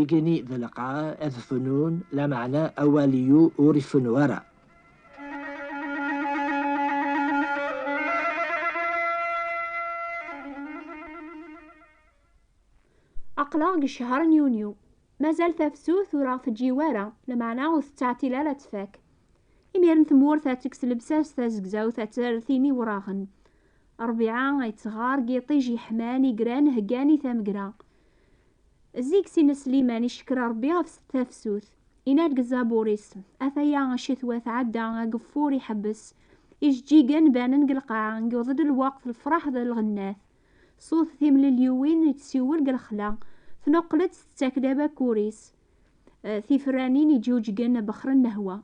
Igenni d lqaɛ ad fennun, lameɛna awal-iu ur ifennu ara. Aql-aɣ deg ccher n yunyu, mazal tafsut ur aɣ-teǧǧi wara, lameɛna ur tettɛeṭṭil ara ad tfak. Imiren tmurt ad tekkes lebsas tazegzawt ad terr tin iwraɣen. Ṛbiɛa ay d-teɣɣar deg yiṭij yeḥman i gran heggan i tamegra. Zik s ines Sliman icekker Rebbi ɣef tafsut. Inna deg zzabur-is, Ataya ccetwa tɛedda, ageffur iḥebbes, ijeǧǧigen banen deg lqaɛa, yuḍ-d lweqt, lefraḥ d lɣennat. Ṣut timlelyuwin ittsiwel deg lexla, tnuqel-d tettak-d abakkur-is. Tifranin iǧuǧgen bexren lehwa.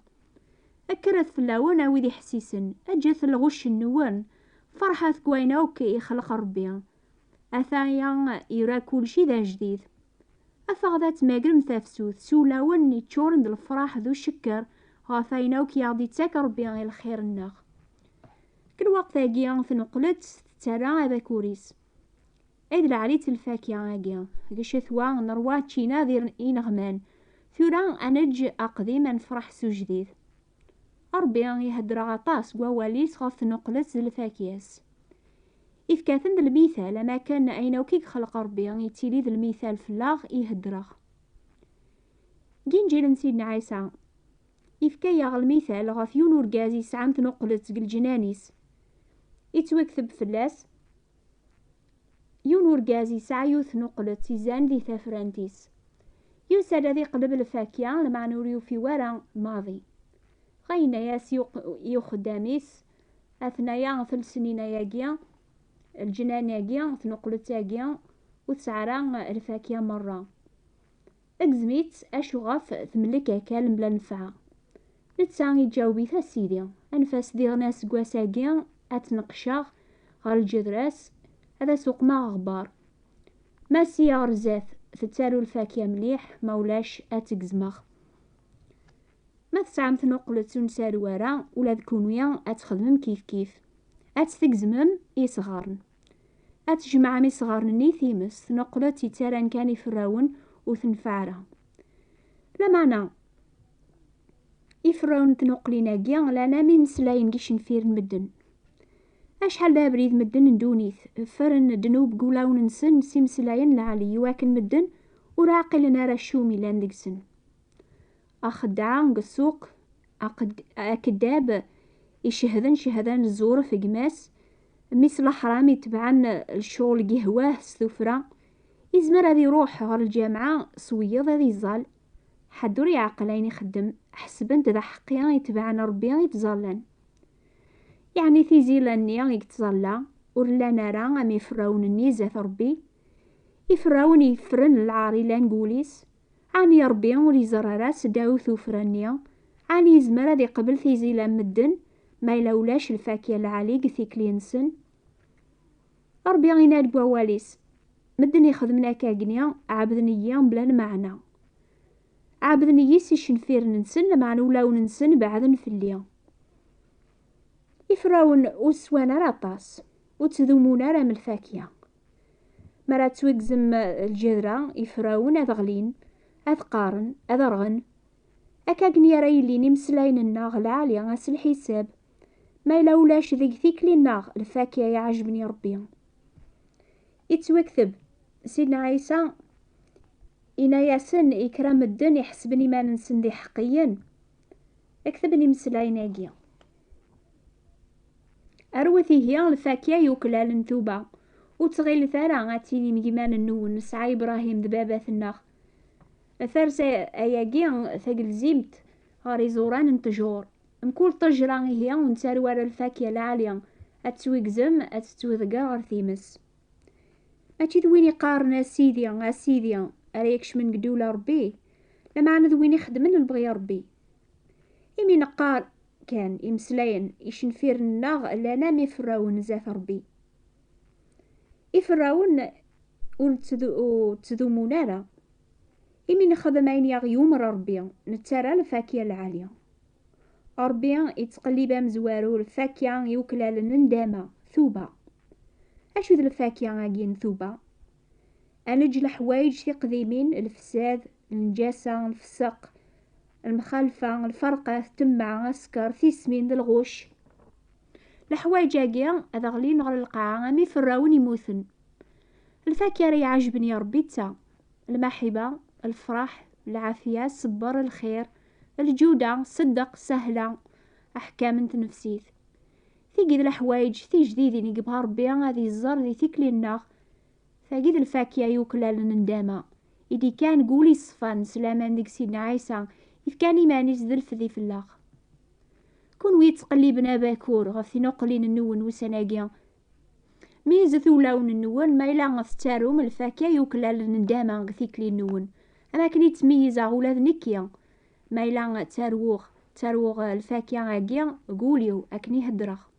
Kkret fell-awen a wid iḥessisen, eǧǧet lɣucc-nwen, ferḥet deg wayen akk ixleq Rebbi. Ataya ira kulci d ajdid. Afeɣ-d ad tmagrem tafsut s ulawen yeččuren d lefraḥ d ucekker ɣef wayen akk i aɣ-d-ittak Rebbi i lxir-nneɣ. Deg lweqt-agi, tneqqel-d tettarra abakur-is. Ay d leɛli-tt lfakya-agi! Gcetwa, neṛwa ččina d ineɣman. Tura ad neǧǧ aqdim ad nefreḥ s ujdid. Ṛebbi iheddeṛ aṭas deg wawal-is ɣef tnuqlet d lfakya-s. Ifka-ten d lmithal, am akken ayen akk i yexleq Ṛebbi yettili d lmithal fell-aɣ i heddeṛeɣ. Deg Inǧil n Sidna Ɛisa, ifka-yaɣ lmithal ɣef yiwen urgaz yesɛan tnuqlet deg lǧnan-is. Ittwakteb fell-as, Yiwen urgaz yesɛa yiwet n uqlet izan di tafrant-is. Yusa-d ad iqleb lfakya, lmeɛna ur yufi wara maḍi. Dɣa yenna-yas i uxeddam-is, Atnaya telsenina-agi, lǧenani-agi, tnuqlet-agi, ur tesɛi ara lfakya merra. Agzem-itt acu ɣef temlek akal mebla nnfeɛ. Netta iǧaweb-it, A Sidi, anef-as diɣen aseggas-agi ad tt-neqqceɣ ɣer lǧedra-s, ad as-uqmeɣ aɣebbar. Ma sya ɣer zdat tettaru lfakya mliḥ, ma ulac ad tt-gezmeɣ. Ma tesɛam tnuqlet ur nsaru ara, ula d kunwi ad txedmem kifkif, ad tt-tgezmem i yesɣaren. Ad tjemɛem isɣaren-nni i times, tnuqlet yettaran kan iferrawen ur tenfeɛ ara. Lameɛna, iferrawen n tnuqlin-agi llan am imeslayen deg yicenfir n medden. Acḥal d abrid medden n ddunit ffren ddnub deg wulawen-nsen s imeslayen lɛali iwakken medden ur ɛqilen ara acu umi llan deg-sen. Axedɛa deg ssuq, akeddab icehden cehda n zzur f gma-s, mmi-s laḥram itebɛen lecɣel gihwa-h s tufra, izmer ad iruḥ ɣer lǧamɛa s wiyeḍ ad iẓẓal, ḥedd ur iɛeqqel ayen ixeddem, ḥesben-t d aḥeqqi itebɛen Rebbi i ttẓallan. Yeɛni tizila-nni i yettẓalla ur llan ara am iferrawen-nni zdat Rebbi, iferrawen yeffren lɛar ilan deg wul-is, Ɛni Ṛebbi ur iẓerr ara seddaw tuffra-nni? Ɛni yezmer ad iqbel tizil am medden, ma yella ulac lfakya n lɛali deg tikli-nsen? Ṛebbi yenna-d deg Wawal-is, Medden ixedmen akkagni, ɛebden-iyi mebla lmeɛna. Ɛebden-iyi s icenfiren-nsen, lameɛna ulawen-nsen beɛden fell-i. Iferrawen ur swan ara aṭas, ur ttdumun ara am lfakya. Mi ara ttwigzem lǧedra, ifrawen ad ɣlin, ad qqaren, ad rɣen. Akka gen ara yillin imeslayen-nneɣ lɛali ass lḥisab, ma yella ulac deg tikli-nneɣ lfakya iɛejben i Rebbi. Ittwekteb, Sidna Ɛisa ina-yasen i kra medden iḥesben iman-nsen d iḥeqqiyen, i ketben imeslayen-agi. Arwet ihi lfakya yuklal n tuba. Ur ttɣilet ara ad tinim yiman-nwen nesɛa Ibrahim d babat-nneɣ. Ters ayagi tagelzimt ɣer iẓuran n tjur. Mkul tajra ihi ur nettaru ara lfakya lɛali, ad tettwigzem, ad tettwidegger ɣer times. Mačči d win iqqaren a Sidi, a Sidi, ara ikecmen deg ddula Rebbi. Lameɛna d win ixeddmen lebɣi n Ṛebbi. Imi neqqar kan imeslayen, icenfiren-nneɣ llan am iferrawen zdat Ṛebbi. Iferrawen ur ttdumun ara. Imi nexdem ayen i aɣ-yumer Ṛebbi, nettarra lfakya lɛali. Ṛebbi ittqellib amezwaru lfakya iweklalen n ndama, tuba. Acu d lfakya-agi n tuba? ad neǧǧ leḥwayeǧ tiqdimin, lefsad, lneǧasa, lfeseq, lmxalfa, lferqa, temma, asker, tismin d lɣuc. Leḥwayeǧ-agi ad ɣlin ɣer lqaɛa am iferrawen immuten. Lfakya ara iɛajben i Ṛebbi d ta, lmaḥiba, lfeṛḥ, lɛafya, ṣṣebber, lxir, lǧuda, ṣṣeddeq, sahla, aḥkam n tnefsit. Tigi d leḥwayeǧ tijdidin i yebɣa Ṛebbi ad iẓer di tikli-nneɣ Tagi d lfakya yuklalen n ddama, i d-ikkan deg wul yeṣfan s laman deg Sidna Ɛisa, yefkan iman-is d lfedi fell-aɣ. Kunwi yettqelliben abakur ɣef tinuqlin-nwen n wussan-agi, meyyzet ulawen-nwen ma yella tettarum lfakya yuklalen n ddama deg tikli-nwen, am akken i ttmeyyizeɣ ula d nekki, ma yella ttarwuɣ, ttarwuɣ lfakya-agi deg wul-iw akken i heddreɣ.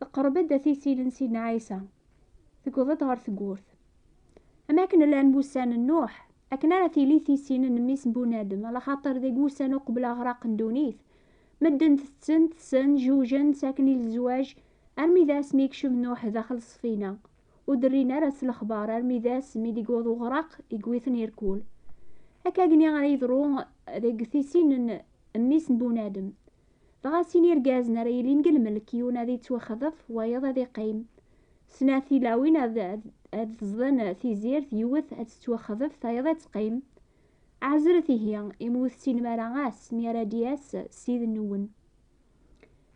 Teqreb-d at isil n Sidna Ɛisa, tewweḍ-d ɣer tewwurt. Am akken llan wussan n Nuḥ, akken ara tili tisin n Mmi-s n Bunadem, alaxaṭer deg wussan uqbel aɣraq n ddunit, medden tetten, ṭsen, jujen, ttaken i lezwaj, armi d ass mi yekcem Nuḥ daxel ṣṣfina, ur d-rrin ara s lexbar armi d ass mi d-yewweḍ uɣraq, yewwi-ten irkul. Akagni ara yeḍru deg tisin n Mmi-s n Bunadem, Dɣa sin irgazen ara yilin deg lmelk, yiwen ad yettwaxḍef, wayeḍ ad iqqim. Snat tilawin ad ad teẓḍen tizirt, yiwet ad tettwaxḍef, tayeḍ ad teqqim. Ɛezret ihi, imi ur tessinem ara ass mi ara d-yas Ssid-nwen.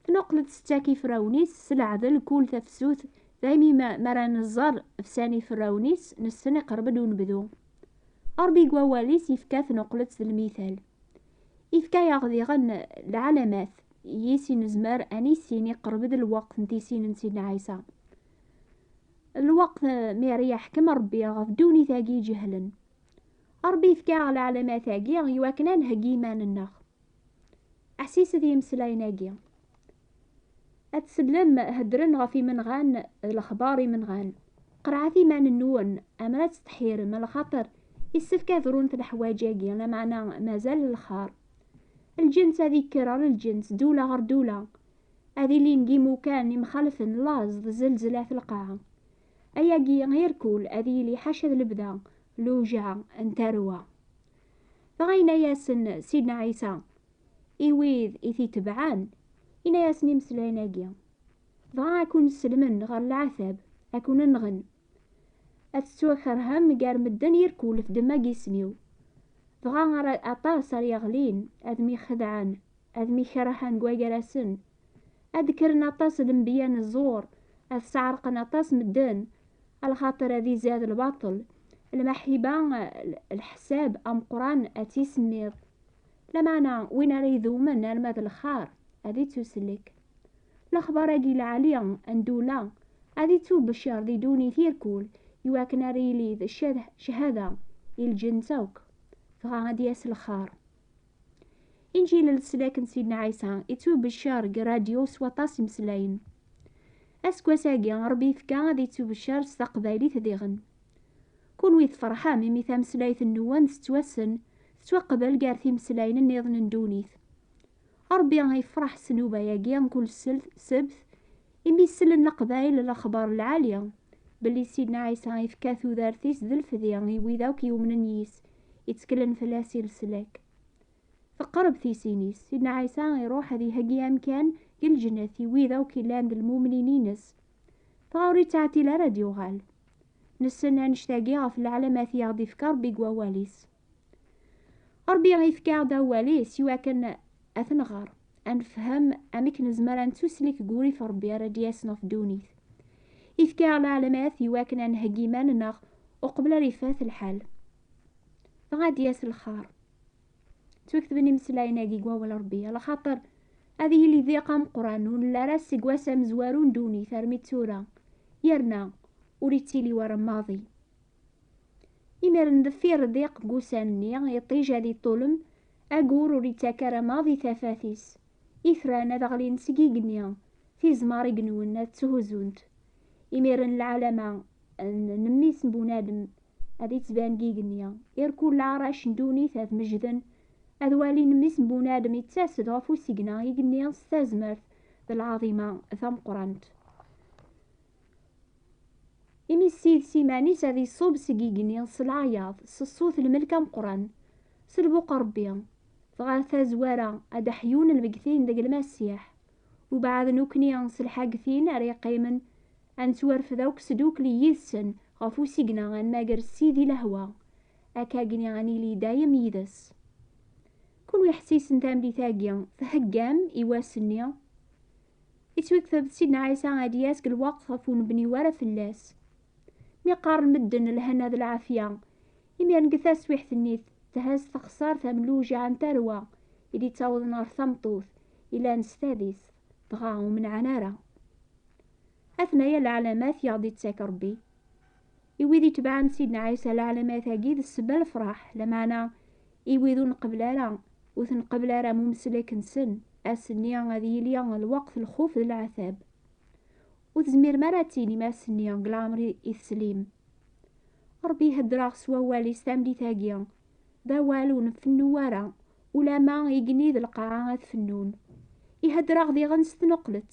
Tnuqleḍ settak iferrawen-is s leɛdel, kul tafsut, daymi mi ara nẓer fsan iferrawen-is, nessen iqerreb-d unebdu. Ṛebbi deg wawal-is yefka tnuqleḍ d lmithal. Ifka-yaɣ diɣen lɛalamat yis i nezmer ad nissin iqerreb-d lweqt n tissin n Sidna Ɛisa. Lweqt mi ara yeḥkem Rebbi ɣef ddunit-agi iǧehlen. Rebbi yefka-aɣ lɛalamat-agi iwakken ad nheggi iman-nneɣ. Ḥsiset i yimeslayen-agi. Ad tsellem, heddren ɣef imenɣan d lexbar imenɣan. Qerɛet iman-nwen, amer ad tettḥirem, lxaṭer issefk ad runt leḥwaǧ-agi, lameɛna mazal lxar. Lǧens ad ikker ɣer lǧens, dula ɣer dula. Ad ilin deg imukan imxalfen, laẓ d zelzel at lqaɛa. Ayagi irkul ad yili ḥaca d lebda, lewjeɛ n tarwa. Dɣa yenna-yasen Sidna Ɛisa, I wid i t-itebɛen, inna-yasen imeslayen-agi, dɣa ad kun-sellmen ɣer leɛtab, ad kun-nɣen, ad tettwakerhem gar medden irkul f ddemma n yisem-iw, dɣa ara aṭas ara yeɣlin, ad myxedɛen, ad mykerhen deg wagar-asen, ad d-kkren aṭas n lenbiya n ẓẓur, ad sɛerqen aṭas medden, lxaṭer ad izad lbaṭel, lmaḥiba, lḥesab ameqqran ad tt-isemmiḍ, Lameɛna win ara idumen arma d lxar ad ittuslek. Lexbar-agi lɛali n Dula ad ittubecer di ddunit irkul iwakken ara yili d cchada i lǧens akk, dɣa ad d-yas lxar. Inǧil n leslak n Sidna Ɛisa ittubecer deg rradyu s waṭas imeslayen. Aseggas-agi Rebbi yefka ad ittubecer s taqbaylit diɣen. Kunwi tferḥem imi tameslayt-nwen tettwassen tettwaqbel gar timeslayin nniḍen n ddunit. Ṛebbi yefṛeḥ s nnuba-agi n kul ssebt, imi sellen Leqbayel lexbaṛ lɛali, belli Sidna Ɛisa yefka tudert-is d lefdi i wid akk yumnen yis, itteklen fell-as i leslak. Teqreb tisin-is, Sidna Ɛisa iṛuḥ ad iheggi amkan deg lǧennet i wid akk yellan d lmumnin-ines, dɣa ur yettɛeṭṭil ara ad d-yuɣal. Nessen annect-agi ɣef lɛalamat i aɣ-d-ifka Ṛebbi deg wawal-is. Ṛebbi yefka-aɣ-d awal-is i wakken ad t-nɣer, ad nefhem amek nezmer ad nettuslik deg wurrif n Ṛebbi ara d-yasen ɣef ddunit. Yefka-aɣ lɛelmat i wakken ad nheggi iman-nneɣ uqbel ara ifat lḥal, dɣa ad d-yas lxer. Ttwaketben imeslayen-agi deg Wawal n Ṛebbi, ala xaṭer ad yili diq ameqqran ur nelli ara seg wass amezwaru n ddunit armi d tura, yerna ur yettili wara maḍi. Imir n deffir diq n wussan-nni, iṭij ad iṭṭulem, agur ur ittak ara maḍ i tafat-is. Itran ad ɣlin seg igenni, tizmar i inwen ad tthuzzunt. Imir n lɛalama n mmi-s n bunadem ad ittban deg igenni. Irkulla arrac n ddunit ad mejden, ad walin mmi-s n bunadem ittas-d ɣef usigna igenni s tazmert d lɛaḍima tameqqrant. Imi Ssid s iman-is ad iṣub seg igenni s leɛyaḍ, s ṣṣut n lmelk ameqqran, s lbuq n Ṛebbi, dɣa ar tazwara ad d-ḥyun lmeggtin deg Lmasiḥ, ubeɛd nukni s lḥagtin ara yeqqimen ad nettwarfed akk sdukli yid-sen ɣef usigna ad nmager Ssid i lehwa, akkagni ad nili dayem yid-s. Kunwi ḥessisen tamlit-agi, theggam i wass-nni? Yettwaktab-d Sidna Ɛisa ad d-yas g lweqt ɣef ur nebni wara fell-as. Mi qqaren medden lhana d lɛafya, imiren g taswiḥt-nni thes texsart am lewjiɛ n tarwa i d-ittawḍen ɣer tameṭṭut yellan s tadist, dɣa ur menɛen ara. Atnaya lɛalamat i ɣ-d-ittak Rebbi. I wid itebɛen Sidna Ɛisa leɛlamat-agi d ssebba n lefraḥ, lameɛna i wid ur nqebbel ara, ur tenqebbel ara am umeslek-nsen, ass-nni ad yili lweqt n lxuf d leɛtab. Ur tezmirem ara ad tinim ass-nni deg leɛmer i teslim. Ṛebbi ihedder-aɣ s wawal-is tameddit-agi, d awal ur nfennu ara, ulamma igenni d lqaɛa ad fennun. Ihedder-aɣ diɣen s tneqqlet,